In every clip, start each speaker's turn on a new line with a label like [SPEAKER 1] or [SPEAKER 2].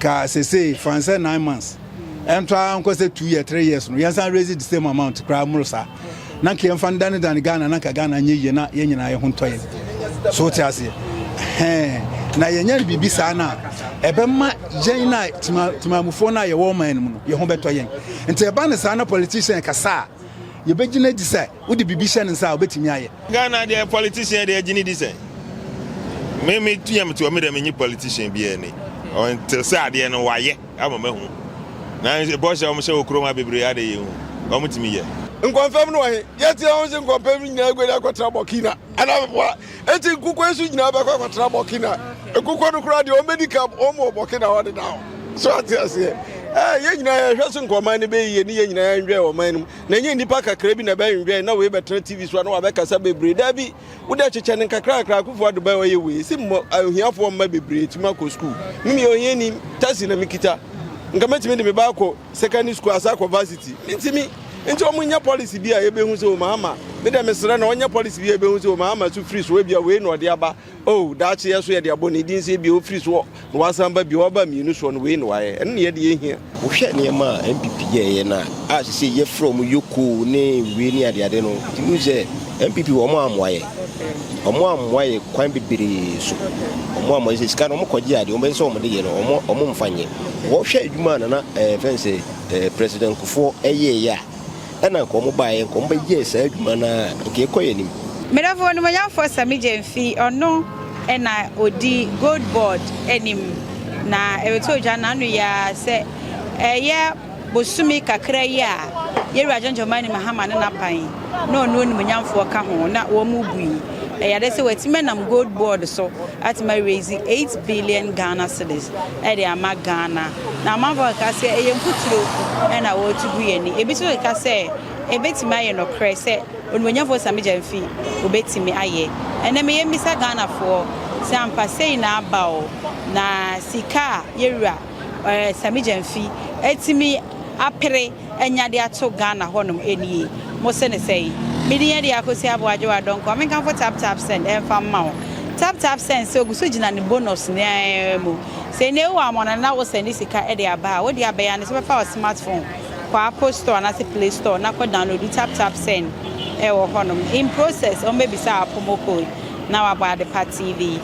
[SPEAKER 1] ka sesei fa no sɛ nine months ɛnto ara nkɔ sɛ two year three years no yɛnsan raise the same amount koraa mmoro saa na nka yɛmfa no danedane ghana na nka ghana nyɛ yie na yɛn nyinaa yɛ ho ntɔ yɛn so wote aseɛ hɛn na yɛnyɛ no biribi saa no a ɛbɛma yɛn no a timamufoɔ no a yɛwɔ ɔman no mu no yɛ ho bɛtɔ yɛn nti ɛba no saa na politician kasa a yɛbɛgyina di sɛ Wode biribi hyɛ ne nsa a obetumi ayɛ. Ghana deɛ politician
[SPEAKER 2] deɛ gyini di sɛn me me tua me tua me deɛ me nye politician bi ɛni ɔnte sɛ adeɛ no wayɛ ama me hu na bɔhyɛ wɔn hyɛ wɔ kurom ha bebree adeɛ yɛ hu wɔn tumi yɛ. Nkɔmfam no wɔ he?
[SPEAKER 3] Yɛatie ho se nkɔmfam no nyinaa aguadi akɔtra Burkina anaa Abepoa. Enti nkukuo nso nyinaa bɛkɔ akɔtra Burkina. Nkukuo no koraa deɛ wɔbɛdi ka wɔn wɔ Burkina hɔ dedaw. So ate aseɛ? Ɛɛ, yɛn nyinaa yɛhwɛ so nka ɔman no bɛyɛ yie ne yɛn nyinaa yɛnwɛn ɔman no mu. na ɛnyɛ nnipa kakra bi na ɛbɛnwewɛn na wei bɛtena TV so a na wabɛkasa bebree. Daabi, wode akyekyɛ no nkakrakra akufo ado bɛn ɔyɛ wei. Si mmɔ ahiafoɔ mma bebree tumi akɔ sukuu. Me meyɛ ohiani, taxi na mekita. Nka mɛtumi de me ba akɔ secondary school asa akɔ varsity. Mentumi. Nti wɔn nyɛ policy bi a yɛbɛhu sɛ wɔn ama. Me dɛ mesrɛ na wɔnyɛ policy bi a yɛbɛhu sɛ wɔn ama so firi so ebia wei na ɔde aba. O, daakye yɛ so yɛde abɔ Ne din sɛ ebia ɔfiri soɔ na wasan aba bio, ɔba mmienu soɔ no, wei na wayɛ. Ɛno na yɛ deɛ yɛhia. Wohwɛ nneɛma
[SPEAKER 4] a NPP yɛɛyɛ no a, a seisei yɛfrɛ wɔn yokoo ne wei ne adeade no, nti wohu sɛ NPP wɔn ammoa yɛ. Wɔn ammoa yɛ kwan bebree so. Wɔn ammoa yɛ sɛ sika no wɔn kɔgye adeɛ, wɔn bɛyɛ sɛ wɔn de yɛ no, wɔn wɔn mmfa nyɛ. Wɔhwɛ adwuma a Nana ɛɛ fɛn sɛ ɛɛ President Kufuor ɛyɛɛyɛ a, Ɛna nka ɔmo baeɛ nka ɔmo bɛyɛɛ saa adwuma no ara nka ɛkɔ yɛn anim. Medɔfo onimuonyamfoɔ
[SPEAKER 5] Sammy Gyamfi, ɔno na ɔdi Gold Board anim, na ɛretɔ dwa n'ano yi ara sɛ ɛyɛ bosome kakra yi a yɛn Wura John Dramani Mahama ne n'aban na ɔno onimuonyamfoɔ ka ho na wɔn rebu yi, ɛyɛ ade sɛ watumi anam Gold Board so atumi a raise eight billion Ghana cedis de ama Ghana. Na amanfo keka sɛ, Ɛyɛ mfuturo na wɔretu gu yɛn ani. Ebi nso keka sɛ, Ebetumi ayɛ nokorɛ sɛ Onimuonyamfoɔ Sammy Gyamfi betumi ayɛ. Ɛnnɛ meyɛ mmisa Ghanafoɔ sɛ ampa sei na aba o, na sika a yɛwura Sammy Gyamfi atumi apere, anya de ato Ghana hɔnom nie. Mo se no sɛn? Me din yɛ de Akosi Aboagyewa Donkor. Me nkamfo Tap Tap Send ɛmfa mma wo. Tap Tap Send sɛ ogu so gyina ne bonus no ara mu. Sɛ nnɛ yi wo amɔnɔ na wo sɛnde sika de aba a, wo deɛ abɛyɛ ane sɛ wobɛfa wo smart phone kɔ Apple Store anaasɛ Play Store na kɔ download Tap Tap Send wɔ hɔnom. In process, wɔbɛbisa wo appromo code na wɔabɔ Adepa TV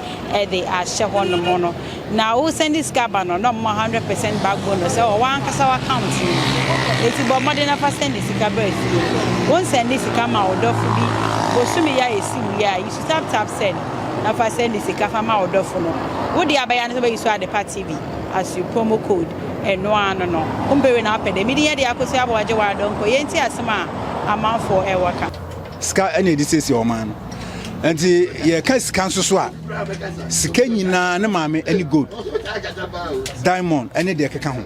[SPEAKER 5] de ahyɛ hɔnom no. Na wo sɛnde sika ba no na ɔmma 100 percent back bonus ɛwɔ wankasa w'account no mu enti bɔ mmɔden na fa sɛnde sika bra fie. Wo nsɛnde sika ma wo dɔfo bi bosome yi a ɛsi wie a yi su tap tap send na fa sɛnde sika fa ma wo dɔfo no. Wo deɛ abɛya ne sɛ wobɛyi su Adepa TV as you promo code ɛno ara no no. Wo mpɛ wei na wapɛ dɛ. Medin yɛ Deɛ Akosua Aboagye Waadɔ Nkoye nti asɛm a amanfoɔ ɛwɔ ka. Sika na yɛde
[SPEAKER 1] siesie ɔman no. Nti yɛka sika nso so a, sika nyinaa ne maame ne gold, diamond ne deɛ ɛkeka ho.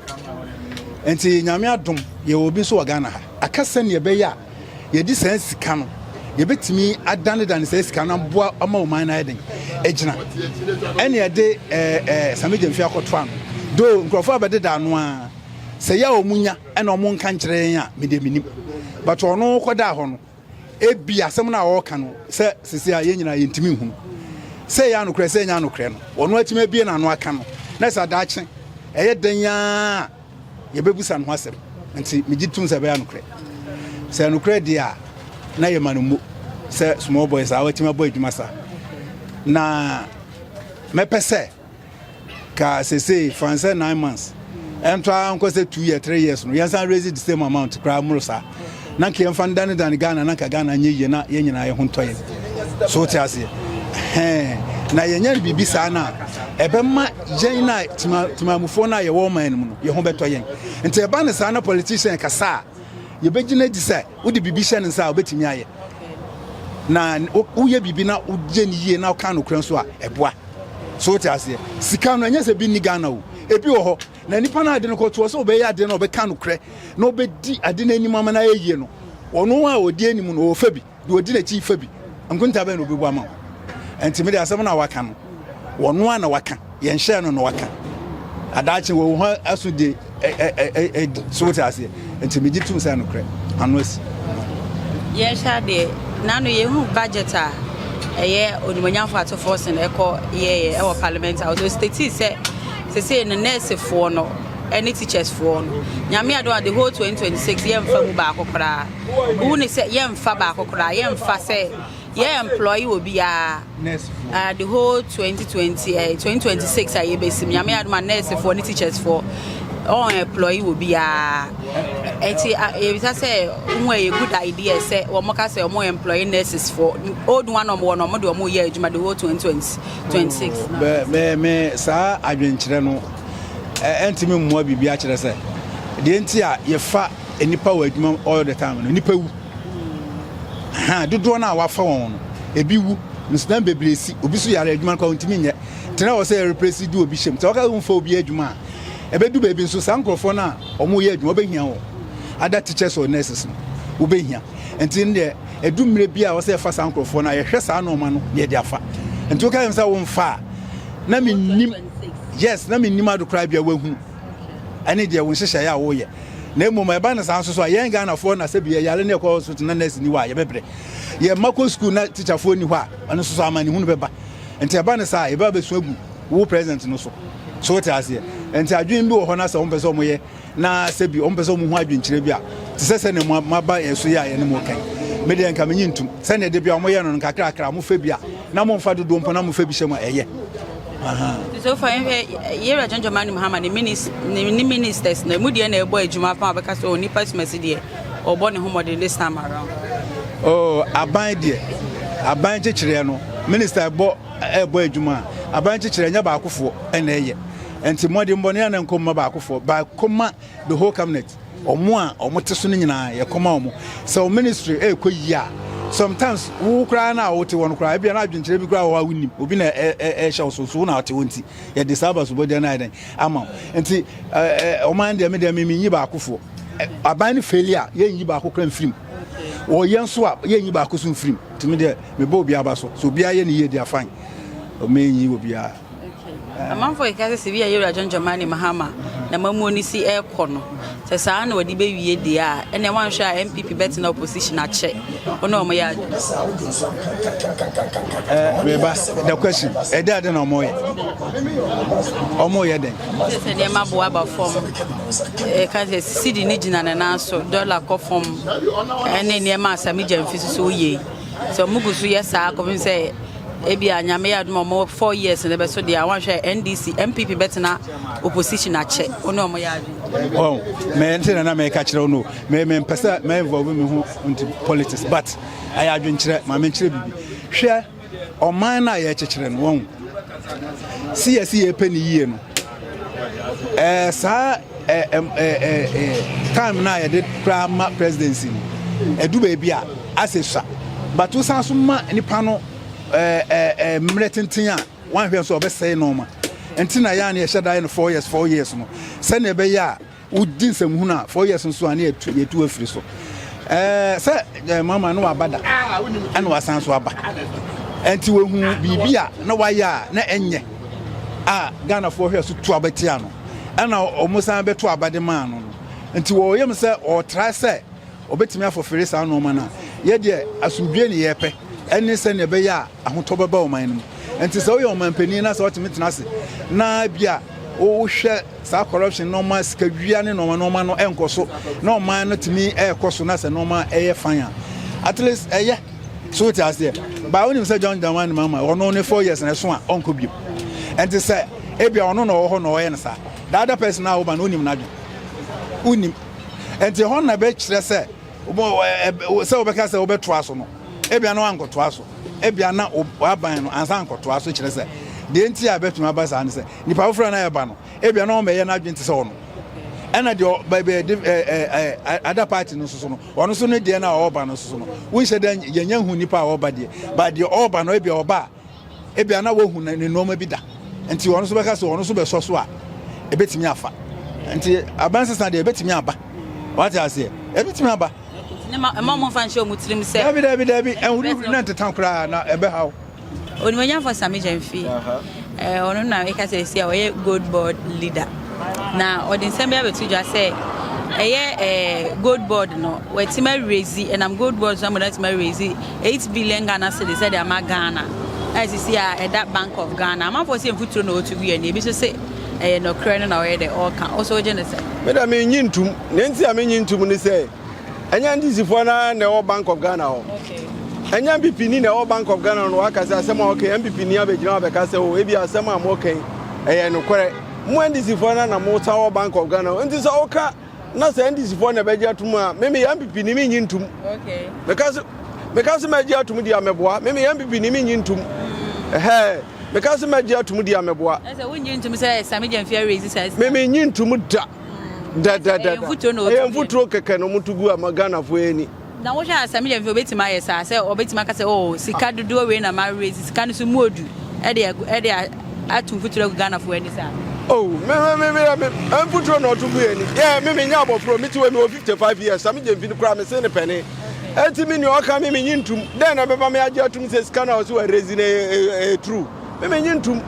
[SPEAKER 1] Nti nyame adom yɛwɔ obi nso wɔ Ghana ha. Aka sɛnea ɛbɛyɛ a yɛde saa sika no yɛbɛtumi adanedane saa sika no aboa ama ɔman no ayɛ den agyina ɛne ɛde eh, eh, samegya mfi akɔtoa no do nkurɔfoɔ a bɛdeda ano a sɛ yɛ a ɔmu nya ɛna ɔmo nka nkyerɛ yɛn a me deɛ me nim but ɔno kɔdaa hɔ no ebi asɛm no a ɔreka no sɛ sisi a yɛn nyinaa yɛntumi nhunu sɛ yɛ anokorɛ sɛ ɛnyɛ anokorɛ no ɔno atumi abie n'ano aka no na sɛ adaakye ɛyɛ dɛn yaa yɛbɛbusa no ho asɛm nti megye tom sɛ ɛbɛyɛ anokorɛ sɛ anokorɛ deɛ a na yɛma no mmo sɛ small boys a watumi abɔ adwuma saa na mɛpɛ sɛ ka sesei fan sɛ nine months ɛnto ara nkɔ sɛ two year three years no yɛnsan raise the same amount koraa mmoro saa na nka yɛmfa no danedane ghana na nka ghana nyɛ yie na yɛn nyinaa yɛ ho ntɔ yɛn so wote aseɛ hɛn na yɛnyɛ no biribi saa no a ɛbɛma yɛn na timamufoɔ no a yɛwɔ ɔman no mu no yɛ ho bɛtɔ yɛn nti ɛba no saa na politician kasa a yɛbɛgyina di sɛ Wode biribi hyɛ ne nsa a, obetumi ayɛ. Na woyɛ biribi na woyɛ no yie na woka nokorɛ nso a, ɛboa. So wote aseɛ? Sika no, ɛnyɛ sɛ bi nni Ghana o. Ebi wɔ hɔ. Na nipa no a ade no kɔtoɔ sɛ ɔbɛyɛ adeɛ na ɔbɛka nokorɛ na ɔbɛdi ade no anim ama no ayɛ yie no, ɔno a ɔdi anim no, ɔfa bi. Deɛ ɔdi n'akyi fa bi. Nkonta bɛn na ɔbɛbu ama wo? Ɛnti me deɛ asɛm no a waka no, ɔno ara na waka. Yɛnhyɛɛ no na waka. Adaakye wɔ wo ho aso de adi. So wote aseɛ? Nti megye tom sɛ nokorɛ ano asi.
[SPEAKER 5] Yɛnhwɛ adeɛ. Nano yɛhu budget a ɛyɛ onimonyamfo atofoɔ sen ɛkɔ yɛyɛ ɛwɔ parliament house. So statii sɛ sese no nɛɛsefoɔ no ɛne teachers foɔ no. Nyame adom a the whole 2026 yɛmfa mu baako koraa. Wohu ne sɛ yɛmfa baako koraa. Yɛmfa sɛ Yɛ employ obiara uh, the whole 2020 uh, 2026 a yɛbɛsim nyame adom a nursefoɔ ne teachersfoɔ ɔn employ obiara ɛnti yɛbisa sɛ mu ɛyɛ good idea sɛ wɔn ka sɛ wɔn employ nurses for old one wɔn wɔ no wɔn de wɔn yɛ adwuma the whole 2026. mɛ mɛ mɛ
[SPEAKER 1] saa adwenkyerɛ no ɛntumi mmoa biribi akyerɛ sɛ deɛ nti a yɛfa nipa wɔ adwuma all the time no nipa wu. Ahaa, dodoɔ no a wɔafa wɔn no, ebi wu, nsonam bebree si, obi so yare, adwuma no koraa ɔntumi nyɛ. Tena wɔ sɛ yɛrepresi du obi hyɛm. Sɛ wɔka sɛ womfa obi adwuma a, ɛbɛdu baabi nso saa nkurɔfoɔ no a wɔyɛ adwuma, wobɛhia wɔn. Other teachers or nurses no, wobɛhia. Nti no deɛ, ɛdu mmerɛ bi a ɛwɔ sɛ yɛfa saa nkurɔfoɔ no a, yɛhwɛ saa nneɛma no na yɛde afa. Nti woka kyerɛ me sɛ womfa a, na mennim, yes, na mennim ade koraa bia woahunu. ɛne deɛ wo nhyehyɛeɛ a woyɛ na mmom ɛba no saa nso so a yɛn ghanafoɔ na sɛbi yɛyare ne ɛkɔ hospital na nurse ni hɔ a yɛbɛbrɛ yɛn mma kɔ sukuu na tikyafoɔ ni hɔ a ɛno nso so amanehunu bɛba nti ɛba no saa yɛbɛba bɛsu agu wo president no so so wote aseɛ nti adwene bi wɔ hɔ na sɛ wɔmpɛ sɛ wɔyɛ na sɛbi wɔmpɛ sɛ wɔn ho adwenkyerɛ bi a te sɛ sɛnea mo maba yɛn so yɛ a yɛne mo kan me deɛ nka menye ntum sɛnea de bi a wɔyɛ no no kakrakra mofɛ bi a na momfa dodoɔ mpo na mofɛ bi hyɛ mu a ɛyɛ
[SPEAKER 5] Sɛfa yɛhwɛ yɛwura John Dramani Mahama ne minis ne ministers na mu deɛ na ɛbɔ adwuma fa ɔbɛka sɛ onipa sumasi deɛ ɔbɔ ne ho mmɔden this time around. Oh,
[SPEAKER 1] aban deɛ aban kyekyereɛ no minister ɛbɔ ɛbɔ adwuma a aban kyekyereɛ nyɛ baakofoɔ ɛna ɛyɛ nti mmɔdenbɔne a na nkɔmma baakofoɔ baakoma the whole cabinet wɔn a wɔn te so no nyinaa yɛ kɔma wɔn sɛ wɔn ministry ɛrekɔ yie a sometimes wo koraa na wote wɔn koraa ebi na adwenkyerɛ bi koraa wɔ hɔ a wonim obi na ɛhyɛ wo so so wo na wote wɔn ti yɛde saa abasobɔdeɛ no ayɛ dɛn ama wo nti ɔman deɛ me deɛ me menyi baakofoɔ aban no faili a yɛnyi baako koraa mfirim wɔyɛ nso a yɛnyi baako so mfirim nti me deɛ mebɔ obiara ba so so obiara yɛ ne yie deɛ afan ɔmɛnyi obiara Amanfoɔ
[SPEAKER 5] keka sɛ sɛ bi a yɛwura John Dramani Mahama n'amammuo no si ɛrekɔ no, sɛ saa na wɔde bɛwie deɛ a, ɛnna wɔanhwɛ a NPP bɛtena opposition akyɛ wɔn na wɔyɛ ade no saa.
[SPEAKER 1] Ɛɛ meba the question ɛde ade na wɔyɛ wɔn yɛ dɛn? Sɛ sɛ nneɛma bo aba
[SPEAKER 5] fam ɛka sɛ sidi ne gyina ne nan so dɔla kɔ fam ɛne nneɛma a Sami Gyamfi soso yie sɛ wɔn gu so yɛ saa kɔpem sɛ Ebia Nyame yɛ adom a ɔmo four years no bɛso deɛ a wanhwɛ NDC NPP bɛtena opposition akyɛ wo ne ɔmo yɛ adwene. Oh,
[SPEAKER 1] mɛ nti na na mɛka kyerɛ wo no mɛ mɛ mpɛ sɛ mɛ involve me ho nti politics but ɛyɛ adwenkyerɛ ma menkyerɛ biribi hwɛ ɔman no a yɛkyekyere no wɔn si yɛsi yɛpɛ ne yie no Ɛɛ saa ɛɛ ɛɛ ɛɛ time na yɛde kura ma presidency no ɛdu baabi a asɛ sua but wosan so ma nipa no ɛɛ ɛɛ mmerɛ tenten a wɔn ahwɛ nso ɔbɛsɛe nɔɔma nti na yɛn a yɛhyɛ da yɛ no four years four years no sɛnea ɛbɛyɛ a. wogye nsɛm hunu a four years nso a ne yɛtu afiri so ɛɛ sɛ eh, mama no waba da ɛna wasan so aba ɛnti wahu biribi a na wayɛ a na ɛnyɛ a ghanafoɔ hwɛ so tu abɛtia no ɛna wɔn san bɛto abade maa no no nti wɔyɛ mu sɛ ɔtra sɛ Wɔbɛtumi afofere saa nnoɔma no a, yɛ deɛ asomdwoeɛ ne yɛpɛ ɛne sɛdeɛ ɛbɛyɛ a ahotɔ bɛba ɔman no mu. Ɛnti sɛ woyɛ ɔmanpanin na sɛ wotumi tena ase na bi a wohwɛ saa corruption nnoɔma, sikadwia ne nnoɔma nnoɔma no ɛnkɔ so na ɔman no tumi ɛkɔ so na sɛ nnoɔma ɛyɛ fan a, at least ɛyɛ. So wote aseɛ? Baa wonim sɛ John Dramani Mahama ɔno ne four years na ɛso a ɔnkɔ bio. Ɛnti sɛ ebia ɔno na ɔwɔ hɔ na ɔyɛ no saa. The other person a woba no wonim n'adwene. Wonim. ɛnti ɛhɔ na ɛbɛkyerɛ sɛ sɛ wobɛka sɛ wobɛtoa so no ebia na wankɔtoa so ebia na waban no ansa nkɔtoa so kyerɛ sɛ deɛ nti a ɛbɛtumi aba saa ne sɛ nipa foforɔ na ɛba no ebia na ɔmɛyɛ n'adwene te sɛ ɔno ɛna deɛ baabi ɛde ɛɛ ada party no soso no ɔno nso ne deɛ na ɔba no soso no wonhyɛ dɛ yɛnyɛ hu nipa a ɔba deɛ ba deɛ ɔba no ebia ɔba a Ebia na wahu ne nneɛma bi da, nti ɔno nso bɛka sɛ ɔno nso bɛsɔ so a, ebetumi afa. Nti abansesa deɛ ebetumi aba. Wate aseɛ? Ebetumi aba. Ne ma ɛma wɔn
[SPEAKER 5] fa nhyɛ wɔn tirim sɛ. Dabi dabi dabi, ɛnhurihuri
[SPEAKER 1] na nteta koraa na ɛbɛhaw. Onimonyamfo
[SPEAKER 5] Sami Gyamfi, ɔno na meka sɛ esi a ɔyɛ gold board leader. Na ɔde nsɛm bi abɛto dwa sɛ ɛyɛ ɛɛ gold board no wɔatim awurezi ɛnam gold board so ama wɔatim awurezi eight billion ghana cedis ɛde ama ghana a sisi a ɛda bank of ghana amanfoɔ sɛ mfuturo na wɔtu guiɛ na ebi nso sɛ ɛyɛ nɔkorɛ no na ɔyɛ dɛ ɔreka ɔsɛ ɔgye ne sɛ. meda me nyi ntum
[SPEAKER 3] na nti a me nyi ntum ne sɛ ɛnyɛ ndisifoɔ no ara na ɛwɔ bank of ghana hɔ ɛnyɛ
[SPEAKER 5] mpp ni
[SPEAKER 3] na ɛwɔ bank of ghana no wɔaka sɛ asɛm a wɔka mpp ni abɛgyina abɛka sɛ o ebi asɛm a wɔka ɛyɛ nokorɛ Mo NDC foɔ no na mo sa wɔ Bank of Ghana nti sɛ wo ka na sɛ NDC foɔ na ɛbɛgye atum a meme yɛ MPP ni menyi ntum. Meka
[SPEAKER 5] se meka
[SPEAKER 3] se mɛgye atum di a mɛboa meme yɛ MPP ni menyi ntum. Ɛhɛɛ meka se mɛgye atum di a mɛboa. Ɛsɛ wo nyi ntum sɛ
[SPEAKER 5] Sami Gyamfi arezi saa sika. Meme nyi ntum
[SPEAKER 3] da. Dɛdɛdɛda. Ɛyɛ mfuturo kɛkɛ na ɔmo to gu ama Ghana foɔ yɛ ni. Na wohwɛ a sɛ meyɛ
[SPEAKER 5] mfɛfo obetumi ayɛ saa sɛ ɔbɛtumi aka sɛ oh sika dodoɔ wei na ma raise sika no so mu odu ɛde ɛde ato mfuturo agu Ghana fo ani saa. Oh me me me
[SPEAKER 3] meyɛ me mfuturo na ɔto gu yɛ ani yɛ me me nyɛ abɔfro me ti wɔ mi wɔ 55 years sɛ meyɛ mfini koraa me se ne pɛne eti me nua ɔka me me nye ntum dɛn na ɛbɛma me agye atum sɛ sika na ɔsi wɔ raise na ɛyɛ true me me nye ntum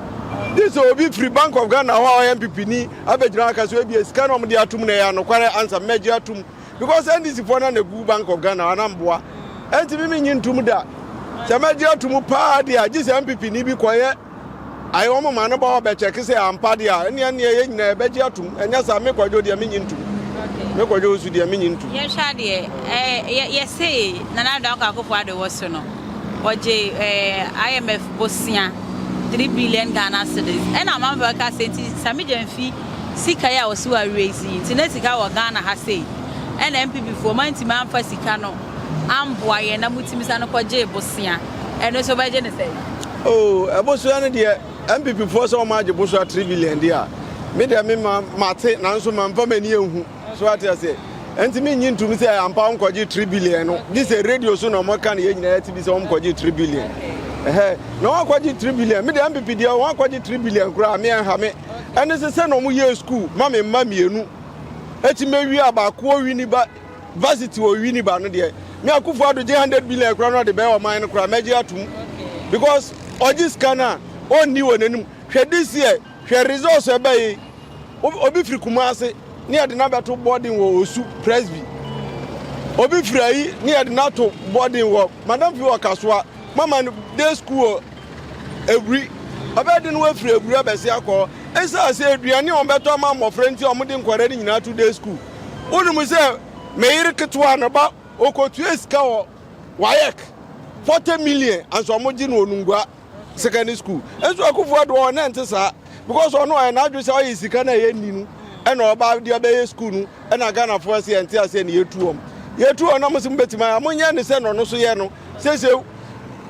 [SPEAKER 3] this obi firi Bank of Ghana hɔ a ɔyɛ mpipini abɛgyina aka sɛ ebia sika na ɔmo de atum na ɛyɛ anokware ansa mɛgye atum because ndc foɔ na na egu bank of ghana ana mboa ɛnti mi mi nyi ntum da sɛ mɛ gye atum paa deɛ agye sɛ npp ni bi kɔyɛ ayɛ wɔn ma no ba hɔ bɛkyɛ kesɛ ampa deɛ a ɛnneɛ nneɛ yɛ nyinaa ɛbɛ gye atum ɛnyɛ saa mi kɔdwo deɛ mi nyi ntum mi kɔdwo nso deɛ mi nyi ntum. yɛ hwɛ adeɛ
[SPEAKER 5] ɛɛ yɛ se nana ado akɔ akofo ado wɔ so no ɔgye ɛɛ imf bosia three billion ghana cedis ɛna amanfo ɛka sɛ nti sami gye nfi. Sika yi a ɔse wawie yi si nti na sika wɔ Ghana ha sei ɛna NPP foɔ moantumi amfa sika no amboa yɛn na motumi sane kɔgyee bosea ɛno nso wobɛgye no sɛn? Oh ɛbosoa no deɛ NPP foɔ sɛ wɔn agye bosoa three billion deɛ a me deɛ me ma mate nanso mamfa m'ani anhu. So wate aseɛ? Ɛnti mennye ntom sɛ ampa wɔnkɔgye 3 billion no, gye sɛ radio so na wɔka no yɛn nyinaa yɛte bi sɛ wɔnkɔgye 3 billion. Ɛhɛ, na wɔakɔgye 3 billion. Me deɛ MPP deɛ wɔakɔgye 3 billion koraa me ɛnha me. Ɛne sɛ sɛ na wɔyɛɛ school ma me mma mmienu. Ɛti mɛwie a baako wɔ Winneba, varsity wɔ Winneba no deɛ, me Akufo Addo gye 100 billion koraa na ɔde bɛyɛ ɔman no koraa mɛgye atom. Because ɔgye sika no a, ɔnni wɔn anim. Hwɛ this year. Hwɛ results a ɛba yi. Obi firi Kumasi ne yɛde no abɛto boarding wɔ Osu Presby. Obi firi ayi ne yɛde no ato boarding wɔ Madam fi wɔ Kasoa. Mama no day school wɔ Ebri. Ɔbɛyɛ den wafiri Ebri abɛsi akɔ. Esiane sɛ aduane a wɔbɛtɔ ama mmɔfra nti a wɔde nkwadaa no nyinaa to day school. Wonim sɛ me yere ketewa ne ba ɔkɔtua sika wɔ WAEC 40 million anso wɔgye no onungua. secondary school nso akufo ado ɔwɔ na nte saa because ɔno ɔyɛ n'adwe sɛ ɔyɛ sika na ɛyɛ ni no ɛna ɔba de ɔbɛyɛ school no ɛna ghanafo ɛsɛ ɛnte aseɛ na yɛtu wɔm yɛtu wɔn na mo sɛ mobɛtumi ayɛ mo nyɛ ne sɛ na ɔno so yɛ no sɛsɛ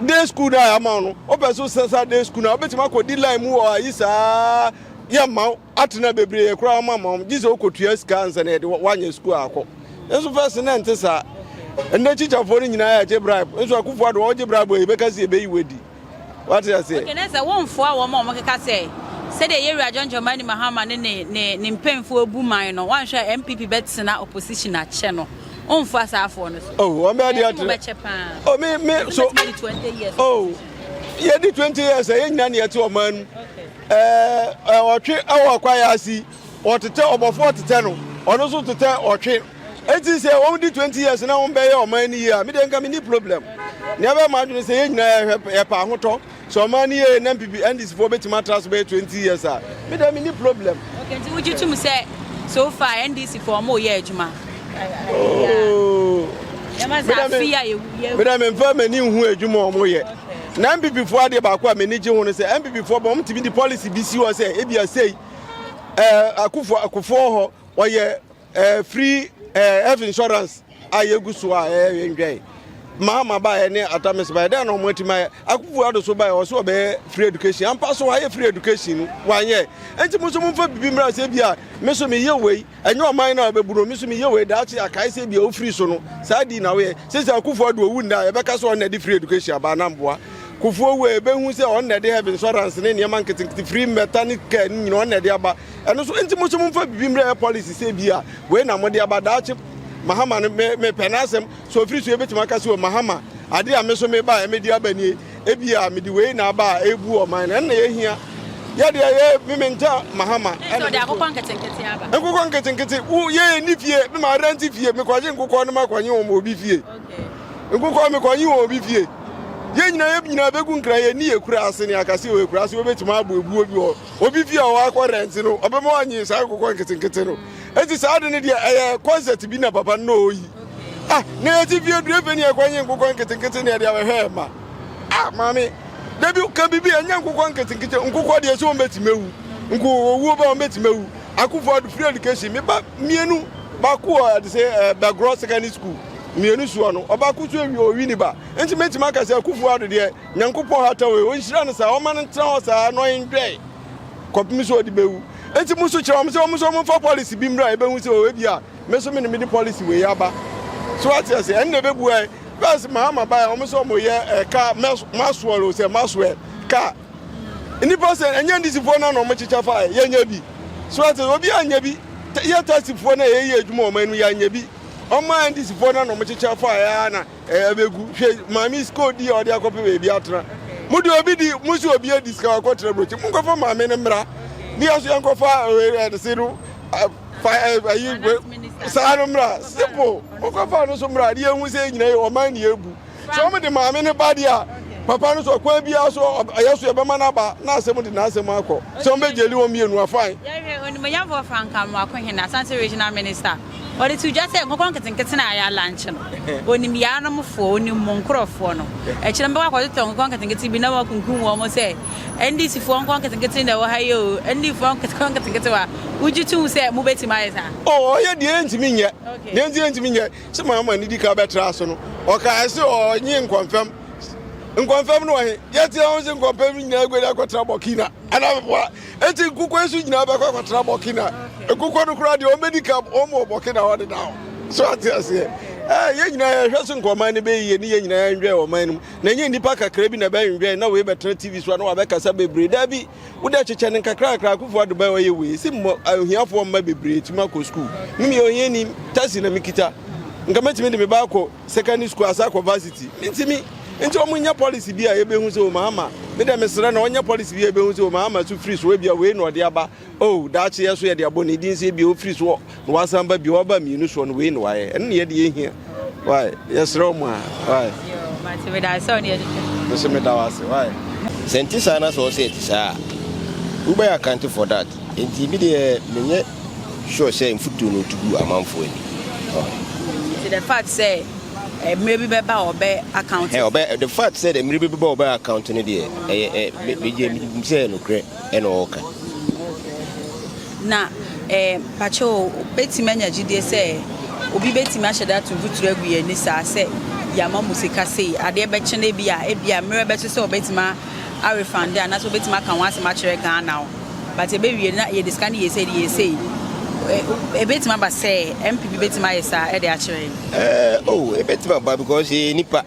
[SPEAKER 5] day school no a yɛama no wopɛ so sɛsa day school no a wobɛtumi akɔdi line mu wɔ ayi saa yɛ mma atena bebree koraa ma ma wɔn gye sɛ wokotua sika ansa na yɛde woanyɛ sukuu akɔ nso fɛs na ɛnte saa ɛnna kyikyafoɔ no nyinaa yɛ agye bribe nso akufo ado wɔgye bribe yɛ bɛka sɛ yɛbɛyi wadi wate aseɛ. Okay, na sɛ wɔmfoa wɔn a wɔkeka sɛ sɛdeɛ yɛwura John Dramani Mahama ne ne ne ne mpanyinfoɔ bu man no wɔanhwɛ a NPP bɛtena opposition akyɛ no wɔmfoa saa afoɔ no so. Oh, wɔn bɛyɛ deɛ akyerɛ.
[SPEAKER 3] Wɔbɛkyɛ paa. Oh, me me so. Wɔbɛtumi de 20 years. Oh, yɛdi 20 years a yɛn nyinaa ne yɛte ɔman mu. Okay. Ɛɛ, ɔtwe wɔ kwae ase yi, wɔtetɛ ɔbɔfo ɔtetɛ no, ɔno nso tetɛ ɔtwe. Enti sɛ wɔdi twenty years na wɔbɛyɛ ɔman no yie a, me deɛ nka menni problem. Nea ɛbɛyɛ m'adwene sɛ yɛn nyinaa yɛhwɛ yɛpɛ ahotɔ. Sɛ ɔman no yɛ yie na NPP, NDC foɔ bɛtumi atra so bɛyɛ twenty years a, me deɛ menni problem. Okay, nti wogye tom
[SPEAKER 5] sɛ so far NDC foɔ wɔyɛ adwuma?
[SPEAKER 3] Oh, Yɛma sɛ afe a yɛwu yɛwu. Me deɛ memfa m'ani nhu adwuma a wɔyɛ. Na NPP foɔ adeɛ baako a m'ani gye ho no sɛ NPP foɔ bɔ wɔn tumi de policy bi si hɔ sɛ ebi asei ɛɛ akufo akufoɔ hɔ wɔyɛ ɛɛ free ɛɛ health insurance a yɛgu so a ɛɛ ndwɛn mahama ba yɛ ne atamis ba yɛ dɛ na wɔn ati ma yɛ akufo ado so ba yɛ wɔso wɔbɛyɛ free education ampa so wɔayɛ free education no wɔanyɛ nti mo nso mo nfa bibi mmira sɛ ebi a me so meyɛ wei Ɛnyɛ ɔman no a ɛbɛbu no, me nso meyɛ wei daakye akae sɛ ebia wofiri so no saa dii na woyɛ. Sɛ sɛ Akufo Addo wu nnɛ a, yɛbɛka sɛ ɔno na ɛde free education aba anaa mboa? Kufuor wu a, yɛbɛhu sɛ ɔno na ɛde heaven insurance ne nneɛma nketenkete, free mmɛta ne car no nyina ɔno na ɛde aba. Ɛno so nti moso momfa biribi mmerɛ yɛ policy sɛ ebia wei na mode aba daakye. Mahama no, me, mepɛ n'asɛm. Sɛ ofiri so yɛbɛtumi aka sɛ o Mahama, adeɛ a me nso mebaeɛ mede aba nie. Ebia mede wei na aba a ebu ɔman no, ɛno na yɛhia. Yɛ deɛ yɛ me menta Mahama. Ɛna ɔde akokɔ
[SPEAKER 5] nketenkete aba. Nkokɔ nketenkete, wo
[SPEAKER 3] yɛ yɛ ni fie, me ma rent fie, me kɔgye nkokɔ no ma kɔnye wɔn obi fie. Nkokɔ me kɔnye wɔn obi fie. Yɛn nyinaa yɛ nyinaa bɛgu nkran yɛ ni yɛ kura ase ne akasi wɔ yɛ kura ase wɔbɛtumi abɔ ebuo bi wɔ obi fie a ɔwɔ akɔ rent no ɔbɛma wɔnye saa nkokɔ nketenkete no. Eti saa de no deɛ ɛyɛ concept bi na papa no na ɔyi. Ah, na yɛte fie duru efe ne ɛkwan nye nkokɔ nketenkete ne ɛde awɛhwɛ ɛma. Ah, maame, da bi ka bibi ɛnyɛ nkokɔ nketenkete, nkokɔ deɛ sɛ wɔn bɛtumi awu, nko owuo ba wɔn bɛtumi awu. Akufo ado free education, me ba mmienu, baako wɔ ɛde sɛ eh, Bɛgorɔ secondary school, mmienu soɔ no, ɔbaako so awie ɔwi ne ba. Nti mɛtumi aka sɛ akufo ado deɛ, nyankopɔn ha ta wei, ɔnhyira no saa, ɔma no ntena hɔ saa na ɔnwɛe kɔpem sɛ ɔde bɛwu. Nti mo so kyerɛ wɔn sɛ wɔn nso wɔn fa policy bi mmra, yɛbɛhu sɛ ɔwɔ bi a, Me nso me ne mede policy wei aba. So wate ase? Ɛnna ɛbɛbuae. First Mahama bae a wɔn sɛ wɔyɛ eh, car mas- Maxwell o sɛ Maxwell car. Nnipa sɛ ɛnyɛ ndisifoɔ no na wɔkyekyɛ faeɛ yɛnyɛ bi. So wate ase? Obiara nyɛ bi. Ta- Yɛ taxifoɔ no a yɛyɛ adwuma wɔn anim yɛanyɛ bi. Wɔn a ndisifoɔ no na wɔkyekyɛ faeɛ ara na Ɛɛ bɛgu. Hwɛ maame sika ɔdi a ɔde akɔpɛ baabi atena. Mo deɛ obi di, mo nso obi adi sika wakɔ tena brokyi. Mo nkɔfa maame no mmra. Ne yɛn nso yɛn nkɔfa ɛdese no fa ayi saa no mmra. Simple. Mo nkɔfa no nso mmra. Ne yɛn hu sɛ yɛn nyinaa yɛ ɔman ne yɛn bu. Sɛ wɔn de maame no ba deɛ a, papa no nso ɔkwan biara so ɔyɛ so yɛbɛma no aba na asɛm de n'asɛm akɔ. Sɛ wɔn bɛgyeli wɔn mmienu a, fine. Yɛhwɛ onimuonyamfoɔ
[SPEAKER 5] Frank Amoako Hene, Asante Regional Minister. Ɔde too dwa sɛ nkɔkorɔ nketenkete no a ayɛ alankye no, onim Yanomfoɔ, onim mo nkorɔfoɔ no. Akyire no bɛkɔ akɔtotɔ nkɔkorɔ nketenkete bi na wɔakunkum wɔn sɛ, NDC foɔ nkɔkorɔ nketenkete na ɛwɔ ha yi oo, NDC foɔ nkɔkorɔ nketenketewa. Wogye tom sɛ mobɛtumi ayɛ saa? O, ɔyɛ deɛ ɛntumi
[SPEAKER 3] nyɛ. Deɛ nti ɛntumi nyɛ sɛ Mahama no di kan bɛtraa so no, ɔkae sɛ ɔnye Nkɔmfam. Nkɔmfam no wɔ he? Yɛteɛ ho sɛ Nkɔmfam no nyinaa aguadi akɔtra Burkina anaa bɛboa Enti nkukuo yi so nyinaa bɛkɔ akɔtena bɔkina nkukuo no koraa deɛ wɔbɛdi ka wɔn wɔ bɔkina hɔ deda hɔ so ate aseɛ ɛɛ yɛn nyinaa yɛhwɛ so nka ɔman no bɛyɛ yie ne yɛn nyinaa yɛnwɛn ɔman no mu na nyɛ nnipa kakra bi na ɛbɛnwɛn na wei bɛtena tv so a na wabɛkasa bebree daa bi wode kyekyɛ no nkakrakra akufo adubai ɔyɛ wei si mmɔ ahiafoɔ mma bebree tumi akɔ sukuu mimi ɔhiani tasi na mekita nka mɛtumi de me ba akɔ Secondary school asan akɔ varsity mintimi nti ɔmo nyɛ policy bi a yɛbɛhu sɛ ɔmo ama me dɛ mesrɛ no ɔnyɛ policy bi a yɛbɛhu sɛ ɔmo ama so firi so ebia wei na ɔde aba oh daakye yɛ so yɛde abɔ ne din sɛ ebia ɔfiri so na wasan ba bio ɔba mmienu soɔ no wei na wayɛ ɛno na yɛde yɛhia wae yɛsrɛ ɔmo a wae
[SPEAKER 5] mesɛ meda wo ase
[SPEAKER 3] wae Sɛ nte saa na
[SPEAKER 4] sɛ ɔsɛ ɛte saa a wobɛyɛ account for that nti me deɛ menyɛ. sure sɛ mfutuo no tu gu amanfoɔ ani. Nti
[SPEAKER 5] the fact sɛ eh, mmerɛ bi bɛba a ɔbɛ account. Hey, ɔbɛ the fact sɛ
[SPEAKER 4] mmerɛ bi bɛba a ɔbɛ account no deɛ ɛyɛ eh, eh, me me gyɛ me sɛ nokorɛ ɛna ɔɔka.
[SPEAKER 5] Na eh, pakyɛ o, bɛtumi anya gyidie sɛ obi bɛtumi ahyɛ da ato mfuturo agu yɛn ani saa sɛ yɛama mu sika sei, adeɛ bɛkyene bi a, ebi a mmerɛ bɛso sɛ ɔbɛtumi a refund anaasɛ ɔbɛtumi aka ho asɛm akyerɛ Ghana o. but yɛbɛwie no na yɛde sika no yɛ sei de yɛ sei ɛbɛtumi aba sɛ mpp bɛtumi ayɛ saa ɛde akyerɛ yɛn eh, oh,
[SPEAKER 4] ɛbɛtumi aba because yɛyɛ nipa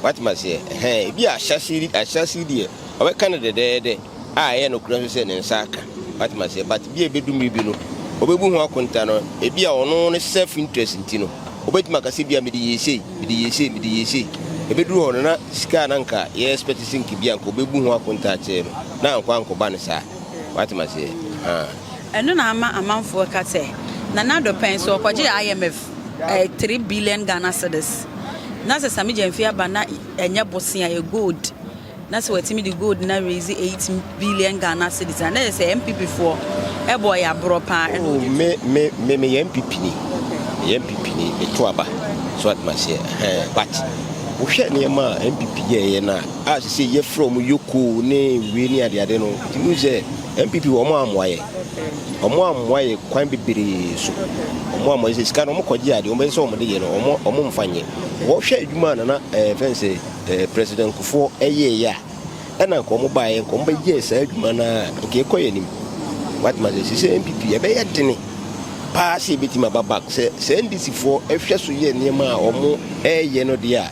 [SPEAKER 4] watumi aseɛ hɛn ebi ahyɛse ahyɛse deɛ ɔbɛka no dɛdɛɛdɛ a ɛyɛ no korɛ nso sɛ ne nsa aka watumi aseɛ but bi a ɛbɛdu mmiri bi no ɔbɛbu ho akonta no ebi a ɔno ne self interest nti no ɔbɛtumi akasɛ bi a mede yɛ sei mede yɛ sei mede yɛ sei ɛbɛduru hɔ no na sika a na nka yɛ expect sɛ nka bi a nka ɔbɛbu ho akonta akyerɛ no Na ankɔ ankoba no saa. W'ate m'aseɛ ahaa. Ɛno na
[SPEAKER 5] ama amanfoɔ ka sɛ Nana Addo pɛn so ɔkɔgyee IMF ɛɛ three billion Ghana cedis. Na sɛ Sammy Gyamfi aba na ɛnyɛ bosea ɛyɛ gold na sɛ watumi de gold no araise eight billion Ghana cedis a na ɛyɛ sɛ NPP foɔ ɛbɔ ɔyɛ aborɔ paa ɛna ɔde tu. Oh me me
[SPEAKER 4] me meyɛ NPP ni meyɛ NPP ni meto aba so w'ate m'aseɛ ahaa but wohwɛ nneɛma a NPP yɛɛyɛ no a. a sesei yɛfrɛ wɔn Yoko ne wei ne adeade no, nti wohu sɛ NPP wɔn ammoa yɛ. Wɔn ammoa yɛ kwan bebree so. Wɔn ammoa sɛ sika no wɔn kɔgye adeɛ, wɔn bɛsɛ sɛ wɔn de yɛ no, wɔn wɔn mfa nyɛ. Wɔhwɛ adwuma a nana ɛɛ fɛn sɛ ɛɛ President Kufuor ɛyɛɛyɛ a, ɛna nka wɔn baeɛ nka wɔn bɛyɛɛ saa adwuma no ara nka ɛkɔ yɛn anim. Watema sɛ sesei NPP ɛbɛyɛ dene paa sɛ ebetumi aba back sɛ sɛ NDC foɔ ɛhwɛ so yɛ nneɛma a wɔn ɛɛyɛ no deɛ a.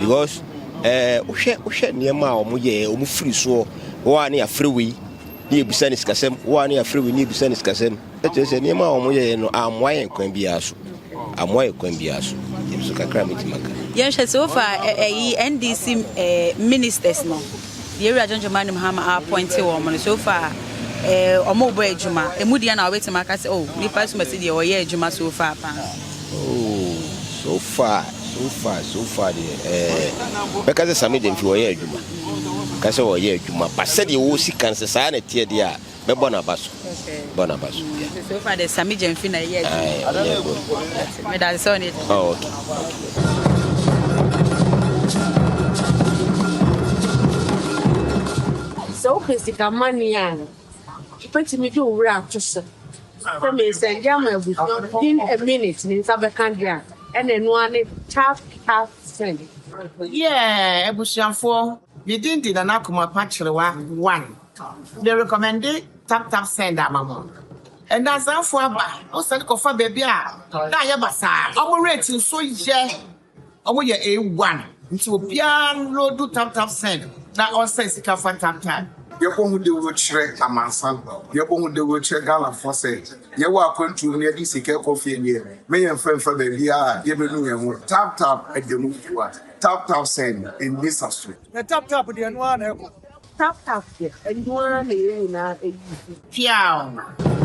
[SPEAKER 5] because ɛɛ wohwɛ wohwɛ nneɛma a wɔn yɛ wɔn firi soɔ wɔn a ne afiri wei ne ebisa ne sikasɛm wɔn a ne afiri wei ne ebisa ne sikasɛm ɛkyerɛ
[SPEAKER 4] sɛ nneɛma a wɔn yɛ no amoa yɛn kwan biara so amoa yɛn kwan biara so ebi so kakra mi ti ma ka. yɛn
[SPEAKER 5] hwɛ so fa ɛyi ndc ɛɛ ministers no deɛ ewura john jomani mahama apɔnte wɔn no so fa ɛɛ wɔn bɔ adwuma emu deɛ na wɔbɛtumi aka sɛ o oh, nipa sumasi deɛ wɔyɛ adwuma so fa paa.
[SPEAKER 4] So far so far so far deɛ ɛɛ eh, bɛka sɛ Sami Gyamfi wɔyɛ adwuma ka sɛ wɔyɛ adwuma pa sɛdeɛ wɔsi kan sɛ saa na ɛteɛ deɛ a bɛbɔ n'aba so bɔ n'aba so yeah. so far deɛ Sami
[SPEAKER 5] Gyamfi na ɛyɛ adwuma medade sɛ ɔne oh, okay. sɛ wopɛ sika mane
[SPEAKER 4] a
[SPEAKER 6] Wobɛtumi de wo werɛ ato so sɛ meresɛnde ama abusua no within a minute ne nsa bɛka deɛ a, ɛna ɛno ara ne tap tap send. Yeah
[SPEAKER 7] abusuafoɔ, me din de Nana Kumapa Kyerewa one. Me rekɔmɛnde tap tap send ama mo. Ɛnansafoɔ aba, wo send kɔfa baabi a na ayɛ basaa, wɔn rate nso yɛ. Ɔmo yɛ A one nti obiaa nloodu tam tam send na ɔnsɛn sika fa tam tam. Yɛbɔhu dawuro
[SPEAKER 3] kyerɛ amansan, yɛbɔhu dawuro kyerɛ Ghanafoɔ sɛ yɛwɔ akwantuo mu na yɛde sika rekɔ fie deɛ, me yɛmfa mfa baabiara a yɛbɛnu yɛn ho. Tap tap ɛda mu fua, tap tap send ɛnni saso. Na tap tap deɛ ɛno ara na ɛkɔ. Tap tap deɛ ɛno
[SPEAKER 7] ara na
[SPEAKER 6] yɛn nyinaa ayi so. Piaaww.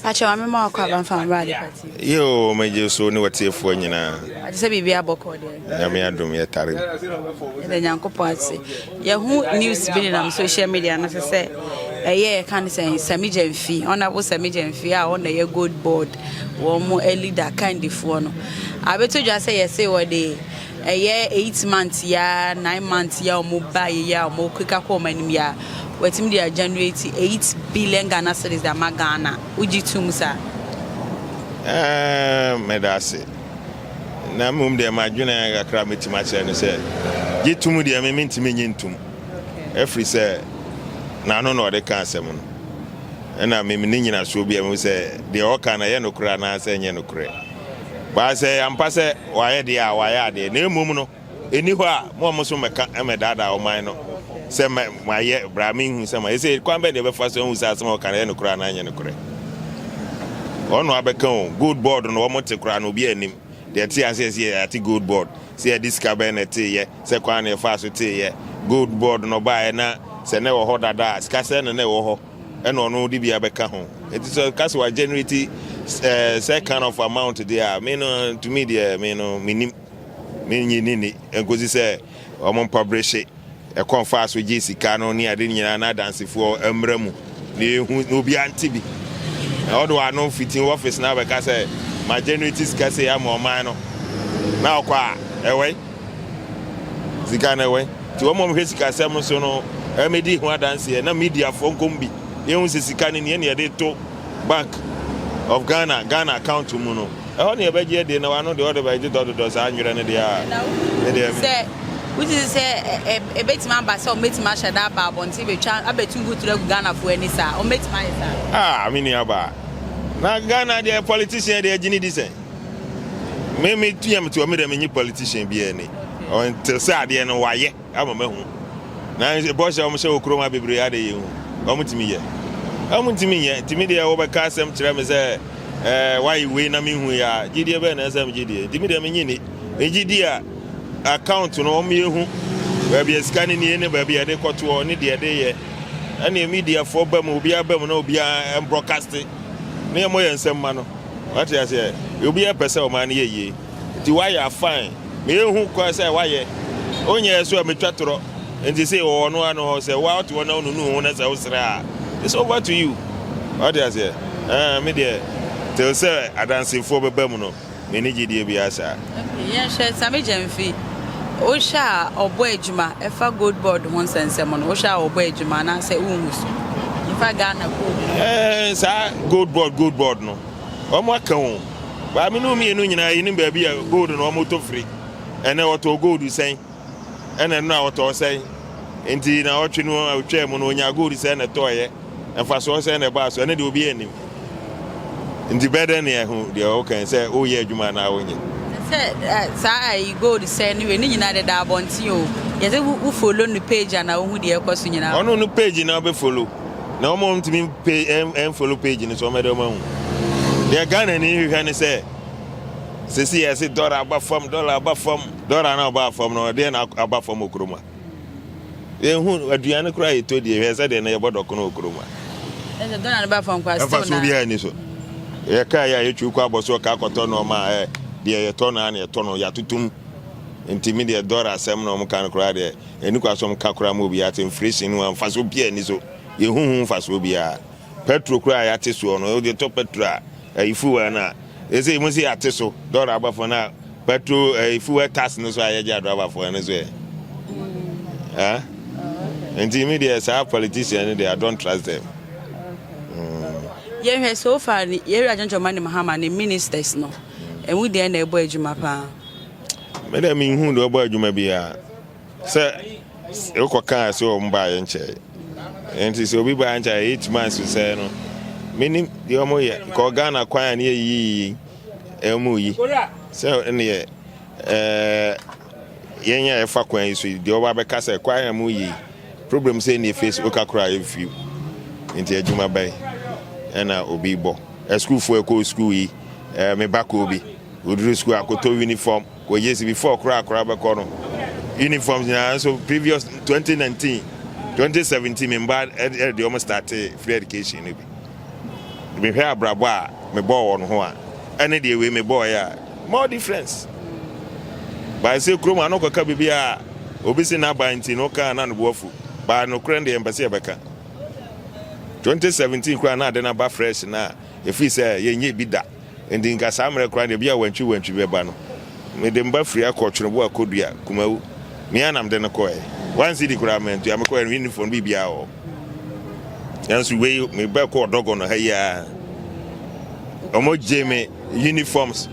[SPEAKER 5] Pakyɛ wame ma wakɔ aba mfa mmerɛ ade pati. Yoo megye so
[SPEAKER 2] ne watiefoɔ nyinaa. Ate sɛ biribi abɔ
[SPEAKER 5] kɔɔ deɛ. Nyame adom yɛ tare.
[SPEAKER 2] Ɛdɛ
[SPEAKER 5] Nyankopɔn ase. Yɛho news bi nenam social media no sɛ sɛ ɛyɛ yɛka ne sɛ Sami Gyamfi, Honorable Sami Gyamfi a ɔna yɛ gold board wɔn mo leader kandifoɔ no. Abɛtɔ dwa sɛ yɛse wɔde Ɛyɛ eight month yi ara nine month yi a wɔn ba yɛ yi a wɔn keka kɔ wɔn anim yi a wɔatumi de agenerate eight billion Ghana cedis de ama Ghana. Wogye tom saa? Aah,
[SPEAKER 2] meda ase. Na mmom deɛ m'adwene kakra mɛtumi akyerɛ ne sɛ, gye tom deɛ me mentumi nye ntom. Ɛfiri sɛ n'ano na ɔde ka asɛm no. Ɛna mem ne nyinasoɔ biara mu sɛ deɛ ɔka no ɛyɛ nokorɛ anaasɛ ɛnyɛ nokorɛ. Bae sɛ ɛyɛ ampa sɛ wɔayɛ deɛ a wɔayɛ adeɛ, na mmom no, ɛnni hɔ a mo a moso mmɛka mmɛdaadaa ɔman no sɛ moayɛ bra menhunu sɛ moayɛ sei, kwan bɛn deɛ ɛbɛfa so ahu sɛ asɛm a wɔka no ɛyɛ nokorɛ anaa ɛnyɛ nokorɛ? Wɔn na wɔabɛka o, gold board no wɔte koraa no obiara nnim deɛ ɛte aseɛ sɛ yɛate gold board, sɛ yɛde sika bɛn na ɛteeɛ, sɛ kwan na yɛfaa so teeɛ, gold board no baeɛ na sɛ na ɛwɔ hɔ dada a sika sɛn na na ɛwɔ hɔ, ɛna ɔno de bi abɛka ho eti sɛ ɔka sɛ wa generate sɛ kind of amount de a me no ntumi deɛ me no me nim me nyi ne ni nkosi sɛ wɔn mpɔbrehye ɛkɔn fa so gye sika no ne ade nyinaa na adansefoɔ mmra mu na ehu na obi ante bi na ɔde wano fiti wɔfis na abɛka sɛ ma generate sika sɛ ama ɔman no na ɔkɔ a ɛwɛ. Sika na ɛwɔ he? Nti wɔn a wɔhwɛ sikasɛm so no mmɛdi ho adanseɛ na mediafoɔ nkɔm bi yɛhu sɛ sika no nie na yɛde to Bank of Ghana, Ghana account mu no. Ɛhɔ na yɛbɛgye adie na wano deɛ ɔde bɛyɛ dodɔdodɔ saa nwerɛ no deɛ a me deɛ me. Sɛ wogye di
[SPEAKER 5] sɛ ɛbɛtumi aba sɛ wɔbɛtumi ahyɛ da aba abɔnten bɛtwa abɛtu mfuturo agu Ghanafoɔ ani saa? Wɔbɛtumi ayɛ saa? Ah, me nuabaa.
[SPEAKER 2] Na Ghana deɛ politician deɛ ɛgye ne di sɛn? Me me tua me tua me dɛ menye politician bi ɛni. Ɔnte sɛ adeɛ no wayɛ ama mahu. Na bɔhyɛ wɔn hyɛ wɔ kurom ha bebree ha de yɛ hu. Wɔn tumi yɛ. Wɔn ntumi nyɛ. Nti me deɛ wɔbɛka asɛm kyerɛ me sɛ ɛɛ wayɛ wei na menhu yɛ a gyidie bɛn na ɛsɛ megye die. Nti me deɛ menye ni. Megye di a account no wɔn yɛ hu baabi a sika no nie ne baabi a yɛde kɔtoɔ ne deɛ yɛde yɛ. Ɛneɛ mediafoɔ ba mu obiara ba mu na obiara ɛmbrɔkaste ne ɛmɔ yɛn nsɛm ma no. Wate aseɛ? Obiara mpɛ sɛ ɔman no yɛ yie. Nti woayɛ a fine. Mehu kwan sɛ woayɛ. Wonyɛɛ nso a metwa torɔ. Nti sei wɔwɔ ɔno ara no hɔ. Sɛ woa wote hɔ na wonunu wo ho na sɛ wosrɛ a, it's over to you. Wate aseɛ? Ɛɛ, me deɛ, till sɛ adansefoɔ bɛba mu no, menni gyedie biara saa. Afei yɛnhwɛ Sammy
[SPEAKER 5] Gyamfi. Wohwɛ a ɔbɔ adwuma ɛfa gold board ho nsɛnsɛm no wohwɛ a ɔbɔ adwuma anaasɛ wonhu so? Yɛfa Ghana gold board. Ɛɛ saa gold
[SPEAKER 2] board gold board no wɔn aka o. Maame no mmienu nyinaa yɛnim baabi a gold no wɔn tɔ firi. Ɛnɛ wɔtɔɔ gold sɛn? Ɛna nnora a wɔtɔɔ sɛn? Enti naawɔtwe no a otwaa mu no onyaa gold sɛn na ɛtɔeɛ? Mfasoɔ sɛn na ɛbaa so? Ɛno deɛ obiara nnim. Enti bɛ dɛn na ahu deɛ woka yi, sɛ woreyɛ adwuma anaa wonyɛ? Sɛ saa
[SPEAKER 5] ayi gold sɛn no wei, ne nyinaa deda abɔnten o, gyɛ sɛ wo follow no page a na wohu deɛ ɛkɔ so nyinaa. Ɔno no page na wobɛ
[SPEAKER 2] follow. Na wɔn a wɔntumi mpe ɛn follow page no so wɔbɛdɛ wɔn ahu. Deɛ Ghanani hwehwɛ ne sɛ, sɛsi yɛse dɔla aba fam, dɔla aba fam. Dora no a ɔbaa fam no, ɛdeɛn na aba fam wɔ kurom ha? Yɛnhu aduane koraa yɛtɔ die, hwɛ sɛdeɛ na yɛbɔ dɔkono wɔ kurom ha. Ɛsɛ dɔla
[SPEAKER 5] no ba fam kwa still na. Ɛfa so biara ni so.
[SPEAKER 2] Yɛ kaa yɛ a yɛtwi kɔ abɔ so ɔka akɔtɔ nneɛma a ɛ deɛ yɛtɔ no a na yɛtɔ no yɛatotom. Nti me deɛ dɔla asɛm na wɔn ka no koraa deɛ ɛni kwa so wɔn ka koraa ma obiara te inflation no ɛfa so biara ni so. Yɛhu ho mfasoɔ biara. Petro koraa a yɛate soɔ no, wode tɔ petro a ɛyi fuel no a Ese yi mo se yate so dɔraba fo na pɛtro ɛyi fuwɛ tas no so a yɛgye adɔraba fo ɛno so ɛ ɛ nti mi deɛ saa politician no deɛ I don't trust them. Yɛn
[SPEAKER 5] hwɛ so far ni yɛwura Jonjo Mani Mahama ne ministers no ɛmu deɛ na ɛbɔ adwuma paa. Me deɛ
[SPEAKER 2] mi nhu deɛ ɔbɔ adwuma biara. Sɛ wokɔkaa sɛ wɔn baeɛ nkyɛe. Nti sɛ obi baa nkyɛe eight months sɛɛ no, menim deɛ wɔn yɛ. Kɔ Ghana kwan a ne yɛ yiyi ɛmu yi. Sɛ neɛ ɛɛ yɛn yɛ ɛfa kwan yi so yi deɛ wɔba bɛka sɛ kwan a mu yi problem sɛ neɛ face oka kora yɛ fi. Nti adwuma bɛn ɛna obi bɔ. Ɛsukuufoɔ ɛkɔ sukuu yi ɛɛ me ba kɔ bi. Oduru sukuu akoto uniform. Wɔgye si before koraa akwadaa bɛkɔ no uniforms nyinaa nso previous twenty nineteen twenty seventeen me mba ɛde de wɔn startee free education no bi mehwɛ abrabɔ a mebɔɔ wɔn ho a ɛne deɛ wei mebɔɔ yɛ a more difference baa sɛ kurom ano kɔka biribi a obi si n'aba nti no kaa na no boafu baa nokorɛ deɛ mpɛ sɛ yɛbɛka twenty seventeen koraa na ade no aba fresh na efiri sɛ yɛnyɛ bi da. Enti nka saa mmerɛ koraa deɛ, bi a wantwi wantwi bɛba no, mede mba firi akɔ Tweneboa kɔdua, Kumawu. Me ara na mede no kɔɛɛ. One cedi koraa mantua, mekɔɛɛ no me nni fon, biribiara wɔ hɔ. Nanso wei, meba kɔɔ Dɔgɔnɔ ha yi ara, wɔn gyee me uniforms,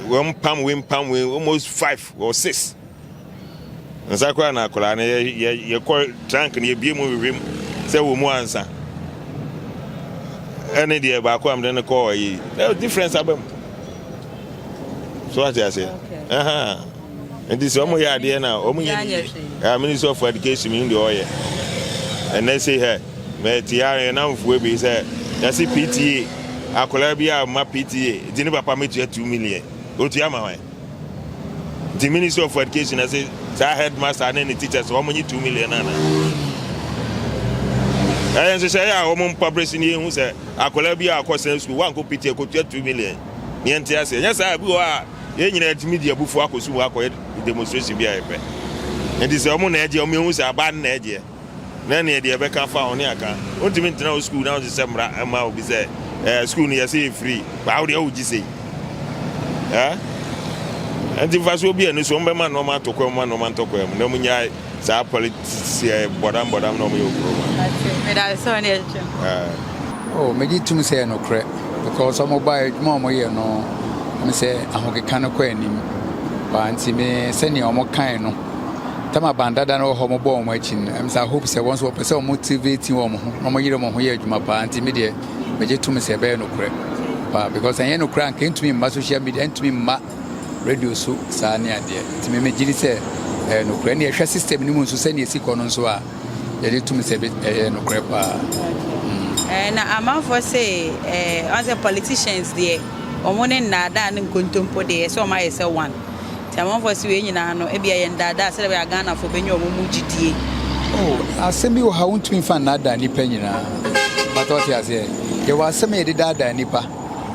[SPEAKER 2] wɔn pam wei, mpam wei, almost five or six. Nsa koraa na akwadaa no yɛ yɛ kɔ trunk no yɛbie mu hwehwɛ mu sɛ wɔ mu ansa ɛne deɛ baako a mede no kɔɔ ayi ɛ difference aba mu so wate aseɛ nti sɛ ɔmo yɛ adeɛ na ɔmo yɛ ne ministry of education mi deɛ ɔyɛ ɛnɛ se hɛ mɛte a yɛ namfoɔ bi sɛ yɛse pta akwadaa bi a ma pta nti ne papa mɛtua two million otua ma hɔn Nti ministry of education na se saa headmaster ne ne teachers wɔn nye two million ana. Ɛyɛ nhyehyɛ yɛ a wɔn mpa bere si ne yɛn hu sɛ akwadaa bi a akɔ sɛn sukuu wankɔ piti ekotua two million ne yɛn te ase. Ɛnyɛ saa bi wɔ a yɛn nyinaa yɛtumi di abufuo akɔ sukuu akɔyɛ demonstration bi a yɛpɛ. Nti sɛ wɔn na ɛgye wɔn ehu sɛ aban na ɛgyeɛ. na neɛ deɛ ɛbɛka afa ho ne aka. Wontumi ntena wo sukuu na wonhyehyɛ mmara mma obi sɛ ɛɛ sukuu no yɛsɛ yɛ free paa wo deɛ wogye sei ɛɛ ɛnti mfasoɔ bi ɛni so wɔn bɛma nneɛma ato kwan mu ma nneɛma ntɔ kwan mu na wɔn nyae saa politics ɛɛ bɔdam bɔdam na wɔn yɛ okuro ma.
[SPEAKER 8] Oh, megye tum sɛ nokorɛ because wɔn ba adwuma wɔn yɛ no ɛmi sɛ ahokeka no kɔ anim paa nti me sɛnea wɔn kan no. tam aban dada no wɔ hɔ mobɔ wɔn akyi no ɛm sɛ hope sɛ wɔn nso wɔpɛ sɛ wɔn motivate wɔn ho na wɔyere wɔn ho yɛ adwuma paa nti me deɛ megye tom sɛ ɛbɛyɛ nokorɛ paa because ɛnyɛ nokorɛ anka ɛntumi mma social media ɛntumi mma radio so saa ne adeɛ nti me megye di sɛ ɛyɛ nokorɛ ne yɛhwɛ system no mu nso sɛnea ɛsi kɔ no nso a yɛde tom sɛ ɛyɛ nokorɛ paa eh,
[SPEAKER 5] na amanfoɔ sɛ eh, ɔn sɛ politicians deɛ wɔn ne nnaadaa ne nkontompo deɛ ɛsɛ wɔn ayɛ sɛ one Nti amanfoɔ se wei nyinaa no ebia ɛyɛ ndaadaa sɛdeɛ ɛbɛyɛ a Ghanafoɔ bɛnya wɔn mu gyidie. Oh,
[SPEAKER 8] asɛm bi wɔ ha wontumi mfa nnaadaa nnipa nyinaa. Mpatɔ ɔte aseɛ. Yɛwɔ asɛm a yɛde daadaa nnipa,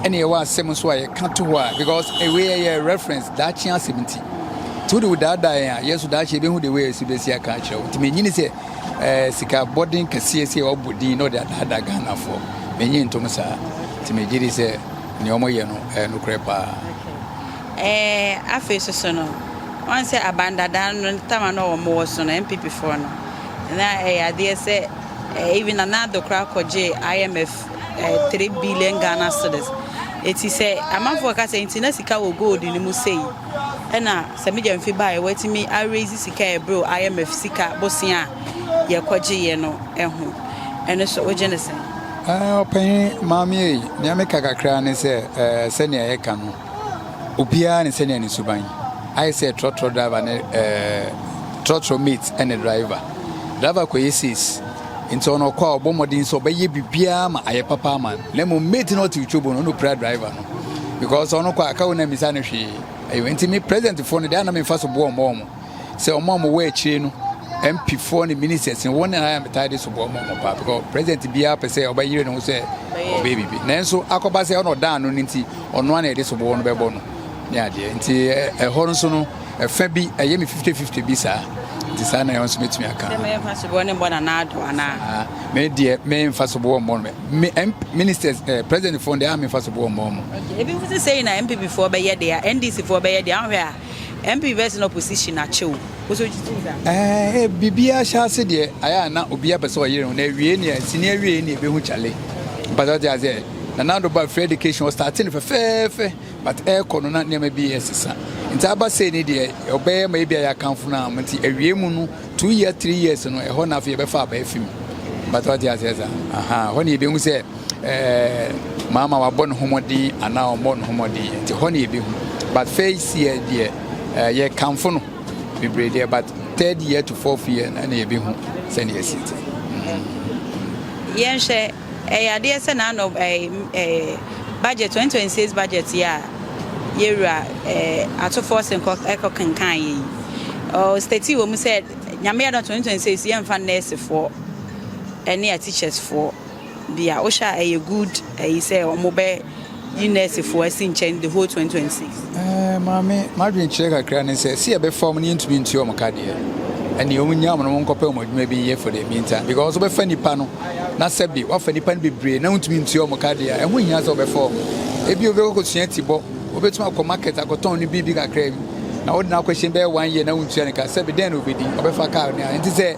[SPEAKER 8] ɛna yɛwɔ asɛm nso a yɛka to hɔ a because ewei ɛyɛ reference daakye asɛm nti. Nti wode wo daadaa yɛn a, yɛn nso daakye yɛbɛhu de wei a ɛsi bɛsi aka akyerɛ wo. Nti mennye ne sɛ ɛɛ sika bɔden kɛseɛ sɛ wɔbɔ din na wɔde adaadaa Ghanafoɔ. Mennye ntom saa. Nti megye di sɛ nea wɔyɛ no ɛyɛ nokorɛ paa. Ɛɛ afei
[SPEAKER 5] soso no wɔn sɛ aban dada no ne tama no a wɔn wɔ so no NPP foɔ no na ɛyɛ adeɛ sɛ ɛɛ even Nana Addo koraa kɔ gyee IMF ɛɛ three billion Ghana cedis eti sɛ amanfoɔ ka sɛ nti na sika wɔ gold no mu sei ɛna sɛ me gyamfi baa yɛ wɔatumi a raise sika a ɛbrew IMF sika bosea a yɛ kɔ gye yɛ no ɛho ɛno so wogye ne sɛn. Ɛɛ
[SPEAKER 8] ɔpanyin maame ei nea meka kakra ne sɛ ɛɛ sɛnea yɛka no. Obiara ne sɛnea ne suban ayɛ sɛ trɔtrɔ driver ne ɛɛ trɔtrɔ mate ɛne driver. Driver kɔyɛ sales nti ɔno ɔkɔ a ɔbɔ mmɔden sɛ ɔbɛyɛ biribiara ma ayɛ papa ama no na mmom mate no ɔte twobo no ɔno pira driver no because ɔno kɔ a ka wo na mmisa no hwee ɛyɛ nti me presidentfoɔ no deɛ ana memfa so boɔ mmɔ wɔn sɛ wɔn a wɔwɔ akyire no mp foɔ ne ministers no wɔn nyinaa metae de sobɔ wɔn wɔn paa because president biara pɛ sɛ ɔbɛyere ne ho sɛ ɔbɛyɛ biribi nanso akɔba sɛ ɔna ɔdan no no nti ɔno a na yɛde sobɔ wɔn bɛbɔ no ne adeɛ nti ɛhɔ no nso no ɛfɛ bi ɛyɛ me fifty fifty bi saa nti saa na ɛwɔ nso mɛtumi aka
[SPEAKER 5] me deɛ
[SPEAKER 8] memfa soboɔ mmɔ no me ministers eh, president foɔ deɛ a memfa soboɔ mmɔ mo ebi ho sɛ sɛi na
[SPEAKER 5] mpp foɔ bɛyɛ deɛ ndc foɔ bɛyɛ deɛ ahwɛ a MP verse na opposition akyɛ o. Ɛɛ biribiara hyɛ ase
[SPEAKER 8] deɛ ayɛ a na obiara pɛ sɛ ɔyere ho na awie ne a sini awie ne ɛbɛhu kyale mpa sɛ ɔte aseɛ na na ado ba free education ɔstate no fɛfɛɛfɛ but ɛrekɔ no na nneɛma bi ɛsesa nti aba sei ne deɛ ɔbɛyɛ ma ebi a yɛakamfo no a nti awie mu no two years three years no ɛhɔ na afei yɛbɛfa aba afi mu mpa sɛ ɔte aseɛ saa aha hɔ ne yɛbɛhu sɛ Ɛɛ, maama wabɔ ne ho mmɔden anaa ɔmmɔ ne ho mmɔden nti hɔ ne yɛbɛhu. But first year deɛ ɛɛ yɛkamfo no bebree deɛ but third year to fourth year na ɛna yɛbɛhu sɛdeɛ ɛsi te.
[SPEAKER 5] Yɛnhwɛ ɛyɛ adeɛ sɛ na anɔ ɛɛ budget 2026 budget yɛ a yɛwura ɛɛ atofoɔ se nkɔ ɛkɔ kenkan yɛ yi. Ɔɔ state wɔ mu sɛ nyame yɛ dɔ 2026 yɛmfa nɛɛsefoɔ ɛne a teachers foɔ. Bia wo hwɛ a ɛyɛ good ɛyi sɛ ɔmo bɛ yi nurse fo asi nkyɛn the whole 2026. Ɛɛ eh, maame
[SPEAKER 8] madwen kyerɛ kakra ne sɛ si ɛbɛ fa ɔmo ne yɛntumi ntua ɔmo ka deɛ ɛne ɔmo nya ɔmo no ɔmo nkɔpɛ ɔmo adwuma bi nyɛ for the meantime because ɔbɛfa nipa no na sɛbi wafa nipa no bebree na ntumi ntua ɔmo ka deɛ ɛho hia sɛ ɔbɛfa ɔmo ebi obi kɔkɔ sua ti bɔ obetumi akɔ market akɔtɔn ne biribi kakra bi na ɔde na akɔhyɛ bɛyɛ one year na ntua ne ka sɛbi dɛn na obedi ɔbɛfa kaa ne a nti sɛ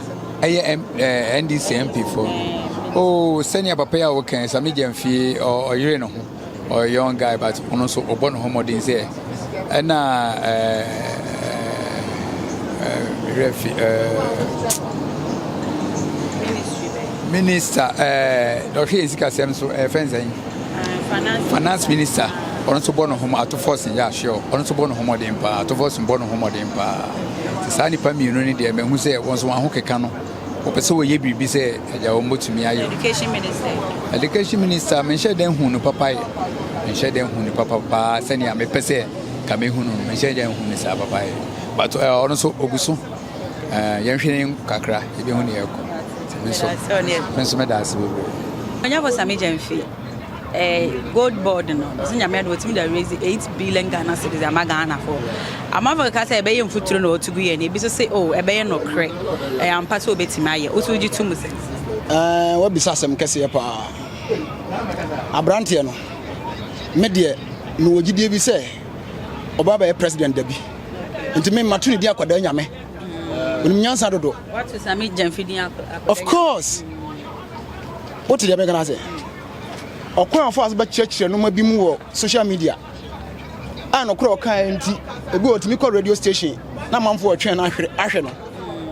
[SPEAKER 5] ɛyɛ
[SPEAKER 8] ɛɛ ndc mpfo oo sɛnea papa yi a wɔkɛn sɛ megya mfie ɔyere ne ho ɔyɛ young guy but ɔno nso ɔbɔ ne ho mmɔden sɛ ɛna ɛɛ ɛɛ fi ɛɛ minista ɛɛ dɔhwɛ yɛn sikasɛm so ɛfɛn sɛn. Finance minister ɔno nso bɔ no ho atofos yɛ ahwɛ ɔno nso bɔ no ho mmɔden paa atofos bɔ no ho mmɔden paa te saa nipa mmienu no deɛ mahu sɛ wɔn nso wɔn ho keka no wɔpɛ sɛ wɔyɛ biribi sɛ ɛgya wɔn bɛtumi ayɛ education minister education minister menhyɛ dɛn hu no papa yɛ menhyɛ dɛn hu no papa paa sɛnea mepɛ sɛ ka mehu no menhyɛ dɛn hu no saa papa yɛ but eh, ɔno nso ɔgu so Eh, yɛnhwɛ ne kakra, yɛbɛhu ne yɛkɔ. Me nso, me nso meda ase
[SPEAKER 5] bebree. Onyafo Sami Gyamfi, eh, gold board no, ɔsɛ nyame ade wɔtumi da raise 8 billion Ghana cedis ama Ghana fo. Amanfo keka sɛ ɛbɛyɛ mfuturo na ɔtugu yɛ ne, ebi so se, oh, ɛbɛyɛ nɔkorɛ, ɛyɛ ampa sɛ obetumi ayɛ. Woso wogye to mu sɛ? Eh, wabisa
[SPEAKER 9] asɛm kɛseɛ paa. Abranteɛ no, me deɛ, mewɔ gyidie bi sɛ, ɔba bɛyɛ president dabi nti me ma to ne din akwadaa nyame onim nyansa
[SPEAKER 5] dodo of course
[SPEAKER 9] wote deɛ mɛka no ase ɔkwan a ɔfa so bɛkyerɛkyerɛ noma bi mu wɔ social media a nɔkorɛ ɔkaeɛ nti ebi ɔtumi kɔ radio station na manfoɔ ɔtwɛn no ahwɛ no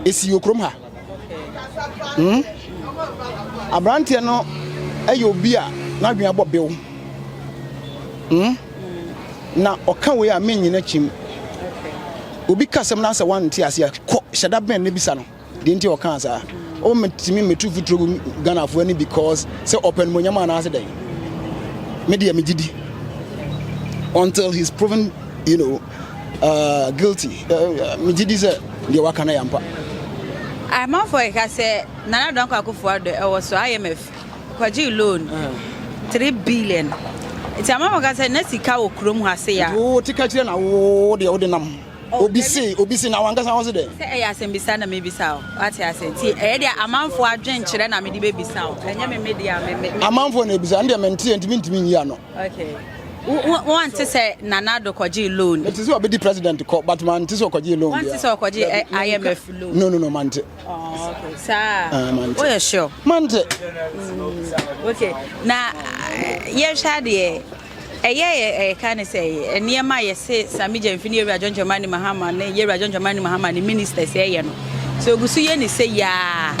[SPEAKER 9] ɛsi okurom ha Hmm? Aberanteɛ no yɛ obi a n'adwene abɔ bew. Hmm? Na ɔka wei a mennyina kyim. Obi ka sɛm na sɛ wante aseɛ kɔ hyɛ da bɛn na bisa no deɛ nti ɔkaa saa. O metumi metu futuro gu Ghanafoɔ ani because sɛ ɔpɛ nomonyam anaasɛ dɛn. Me deɛ megye di until he's proven you know Uh, guilty. Uh, me gidi sɛ deɛ waka no yɛ ampa.
[SPEAKER 5] Amanfoɔ keka sɛ Nana Dɔnkɔ Akufo-Addo ɛwɔ so IMF kɔgye loan uh. three billion. Nti amanfoɔ ka sɛ na sika wɔ kurom ha se ya. Wo te ka kyerɛ na wo deɛ wode nam. Oh, obi se obi se na wankasa wo se dɛ. Sɛ ɛyɛ asɛmbisa na mebisa o. Wate ase nti ɛyɛ deɛ amanfoɔ adwenkyerɛ na mede bɛbisa o. Ɛnyɛ me
[SPEAKER 9] media me
[SPEAKER 5] me.
[SPEAKER 9] Amanfoɔ
[SPEAKER 5] na ebisa
[SPEAKER 9] ɛndeɛ
[SPEAKER 5] menteɛ
[SPEAKER 9] ntimi
[SPEAKER 5] ntimi
[SPEAKER 9] nyi ano.
[SPEAKER 5] wante sɛ nana ado kɔgyee loan mete sɛ ɔbɛdi president
[SPEAKER 9] kɔ but mante sɛ ɔkɔgyee loan wante sɛ ɔkɔgye eh,
[SPEAKER 5] imf loan no no no mante oh,
[SPEAKER 9] okay.
[SPEAKER 5] saa ah, woyɛ sure mante mm, okay na eh, yɛhwɛ adeɛ ɛyɛ ɛka ne sɛ nneɛma a yɛse sami gyamfi ne yɛwura dwɔndwɔma ne mahama ne yɛwura dwɔndwɔma ne mahama ne ministers ɛyɛ no sɛ ogu so yɛ ne sɛ yaa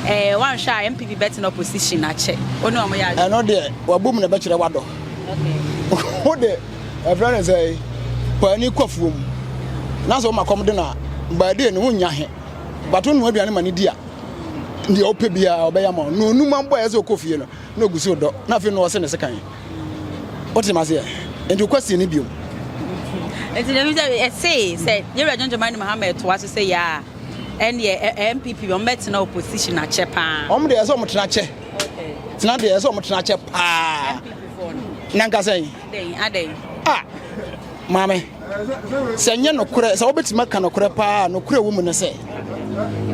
[SPEAKER 5] eh, wanhwɛ a mpp bɛtena opposition akyɛ wo ne ɔmo yɛ adwene ɛno deɛ W'abom
[SPEAKER 9] na ɛbɛkyerɛ w'adɔ. Wo de, ɛfrɛ no sɛ paani kɔ afuo mu. Na sɛ woma kɔm de no a, by day no wonnya he. But wonoa aduane ma no di a, deɛ wopɛ biara ɔbɛyɛ ama wo. Na onum abɔ a ɛyɛ sɛ ɔkɔ fie no, na ɔgu so dɔ. Na afei na ɔse ne sekan. Wote maseɛ? Nti wokɔ sie no biom.
[SPEAKER 5] Nti na ɛfiri sɛ ɛsee sɛ yɛwura John Dramani Mahama ɛtoa so sɛ yɛ a ɛndeɛ NPP wɔn bɛtena opposition akyɛ paa. Wɔn deɛ ɛsɛ wɔn tena akyɛ.
[SPEAKER 9] tena deɛ ɛsɛ ɔmo tena kyɛ paa na nka sɛn a maame sɛ nyɛ nokorɛ sɛ wobɛtumi aka nokorɛ paa nokorɛ wɔ mu ne sɛ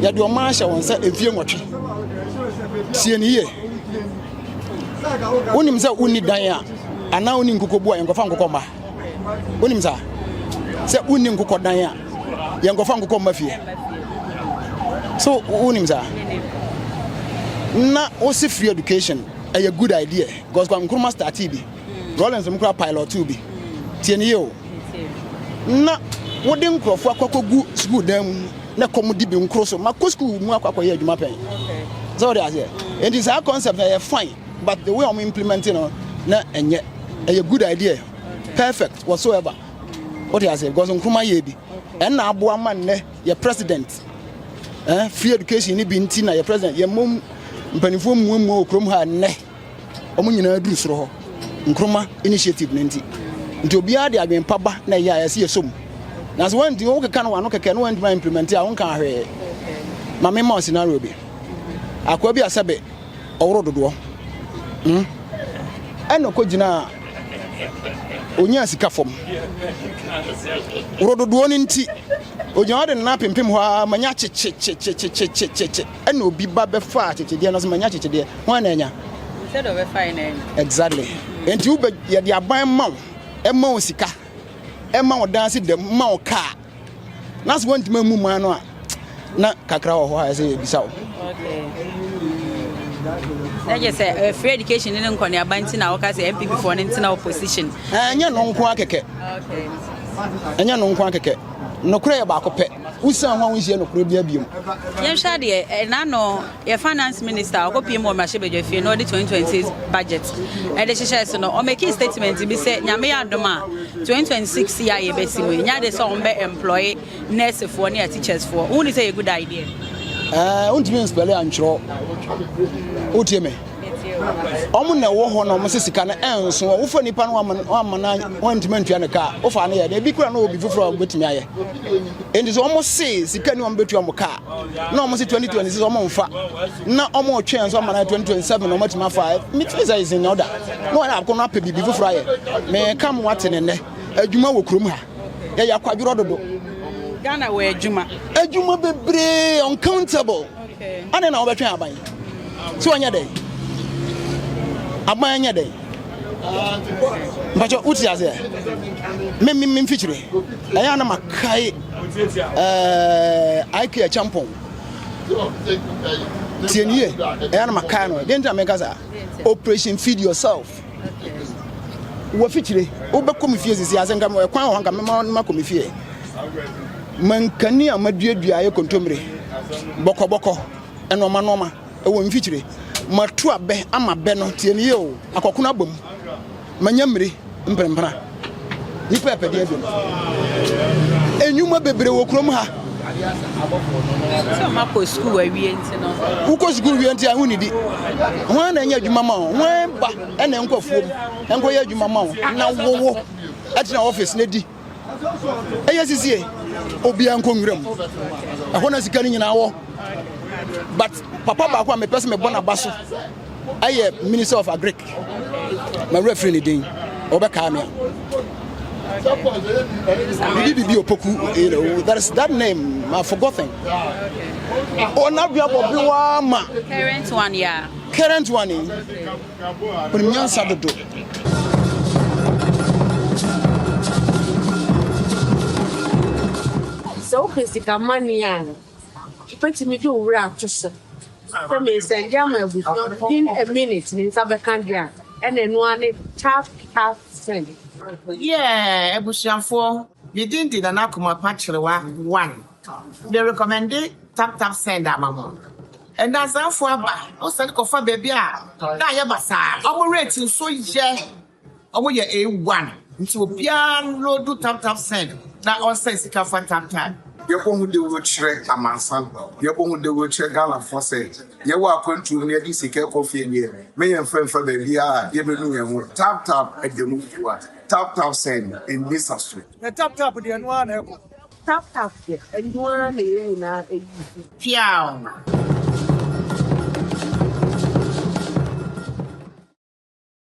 [SPEAKER 9] yɛde ɔma ahyɛ wɔn sɛ ɛfie nwɔtwe tie ne yie wonim sɛ wonni dan a anaa wonni nkokobu a yɛnkɔfa nkokɔ mma wonim saa sɛ wonni nkokɔ dan a yɛnkɔfa nkokɔ mma fie so wonim saa na wose free education ɛyɛ good idea because kwa nkruma startee bi rollins m kora pilot two bi tie ne yɛ o na wode nkurɔfoɔ akɔkɔgu sukuu dan mu na kɔm di bi nkoro so ma kɔ sukuu mu akɔkɔyɛ adwuma pɛn sɛ wode aseɛ enti saa concept na yɛ fine But the way ɔmo implement no na ɛnyɛ ɛyɛ good idea perfect whatsoever wote aseɛ because nkruma yɛ bi ɛnna aboa ma nnɛ yɛ president eh, free education ne bi nti na yɛ president yɛ mmom mpanimfoɔ mmuamua wɔ kurom ha nnɛ ɔmo nyinaa duru soro hɔ nkruma initiative no nti nti obiara de adwene pa ba na ɛyɛ a yɛsi yɛ som na sɛ wɔn nti wɔn keka no wɔn ano kɛkɛ no wɔn ntoma implement a wɔn kan ahwɛ maame ma scenario bi akoa bi asɛbe. ɔworo dodoɔ hmm? ɛna ɔkɔgyinaa ɔnyaa sika fam woro dodoɔ no nti ɔgyina ɔde nna pempem hɔ a manya kyekyekyekyekyekyekyekye ɛna obi ba bɛfa akyekyedeɛ no so manya kyekyedeɛ ho ɛna anya
[SPEAKER 5] exactly
[SPEAKER 9] nti wobɛ yɛde aban ma wo ɛma wo sika ɛma wo danse dɛm ma wo kaa na sɛ wɔntumi ammu man no a na kakra wɔ hɔ a ɛsɛ yɛbisa wo
[SPEAKER 5] na gye sɛ eh, free education ne nkɔneaba nti na woka sɛ mpp foɔ no ntena opposition eh, ɛnyɛ no nko
[SPEAKER 9] akɛkɛ
[SPEAKER 5] ɛnyɛ no
[SPEAKER 9] nko akɛkɛ nokorɛ yɛ baako pɛ wosan ho a wonhyia nokorɛ bia biom yɛnhwɛ adeɛ
[SPEAKER 5] ɛna eh, no Yɛ finance minister a ɔkɔpiem wɔ mmarahyɛbadwa fie na ɔde 2026 budget de hyehyɛɛ so no, ɔmakii statement bi sɛ Nyame yɛ adom a 2026 yi a yɛbɛsi mu yi, nyɛ ade sɛ wɔbɛ employe nurse foɔ ne ateachers foɔ. Wohu no sɛ yɛ good idea? Ɛɛ, wontumi
[SPEAKER 9] nspɛle antwerɛ. Wotie me? wɔn na ɛwɔ hɔ na wɔn sɛ sika no ɛnso a wofa nipa no wɔama na wɔntumi ntua ne kaa wofa no yɛ na ebi kura na obi foforɔ a wɔbɛtumi ayɛ nti sɛ wɔn se sika ni wɔn bɛtua wɔn kaa na wɔn se twenty twenty six wɔn nfa na wɔn retwɛn nso ama na twenty twenty seven na wɔn atumi afa mitumi sɛ ɛsɛ nyɛ ɔda na wɔn akɔ no apɛ biribi foforɔ ayɛ mɛ ka mo ate ne nnɛ adwuma wɔ kurom ha yɛyɛ akwadworɔ dodo. Ghana wɔ
[SPEAKER 5] adwuma. Adwuma bebree
[SPEAKER 9] uncountable. Adɛn na
[SPEAKER 5] wobɛtwɛn aban?
[SPEAKER 9] Sɛ wɔnyɛ dɛn? Aban nyɛ dɛn? Mpakyɛ wote aseɛ? Me me me mfikyire. Ɛyɛ na makae ɛɛ IK Achampong. Tie nie. Ɛyɛ na makae no. Deɛ nti na meka saa. Operation feed yourself. wɔ fikyire wobɛkɔ me fie sisi asɛ nka ɛkwan wɔ hɔ nka mɛma no makɔ me fie mankani a maduadua ayɛ kontommire bɔkɔbɔkɔ ɛnoɔma noɔma ɛwɔ mfikyire mato abɛ ama bɛ no tie ne yie o akɔkono abɔ mu manya mmire mprempra Nnipa pɛdeɛ dom. Enyuma bebree wɔ kurom ha.
[SPEAKER 5] Sɛ ɔma kɔ sukuu awie nti no. Wokɔ sukuu wie nti
[SPEAKER 9] a wonidi. Hwan na ɛnyɛ adwuma ma wo? Hwan ba ɛna ɛnkɔ afuom ɛnkɔyɛ adwuma ma wo na wowo ɛtena ɔfis na di? Ɛyɛ sisie obiara nkɔ nwura mu. Ɛhɔ na sika no nyinaa wɔ. But papa baako a mepɛ sɛ mebɔ n'aba so. ɛyɛ minister of agric mawura firi ne din wɔbɛkaa me bibi bibi opoku you know that is that name i forgotten ɔnaduabɔ bi waa ma
[SPEAKER 5] current one
[SPEAKER 9] yeah current one ɔnim nyansa dodo
[SPEAKER 5] sɛ
[SPEAKER 6] wopɛ sika mane a Wubetumi de wo werɛ ato so sɛ meresɛnde ama abusua no in a minute, me nsa bɛka de a, ɛna ɛno ara ne tap tap send. Yeah
[SPEAKER 7] abusuafoɔ, me din de Nana Komapa Kyerewa one. Me rekɔmɛnde tap tap send ama mo. Nnansafoɔ aba, wo sane kɔfa baabi a na ayɛ basaa, wɔn rate nso yɛ. Ɔmo yɛ A one nti obiaa nloodu tam tam send na ɔnsɛn sika fa tam tam. Yɛbɔhu dawuro
[SPEAKER 3] kyerɛ amansan, yɛbɔhu dawuro kyerɛ Ghanafoɔ sɛ yɛwɔ akwantuo mu na yɛde sika rekɔ fie deɛ, me yɛmfa mfa baabiara a yɛbɛnu yɛn ho. Tap tap ɛda mu fua, tap tap send ɛnni saso. Na tap tap deɛ ɛno ara na ɛkɔ. Tap tap deɛ ɛno
[SPEAKER 9] ara
[SPEAKER 6] na yɛn
[SPEAKER 9] nyinaa
[SPEAKER 6] ayi so. Piaaww.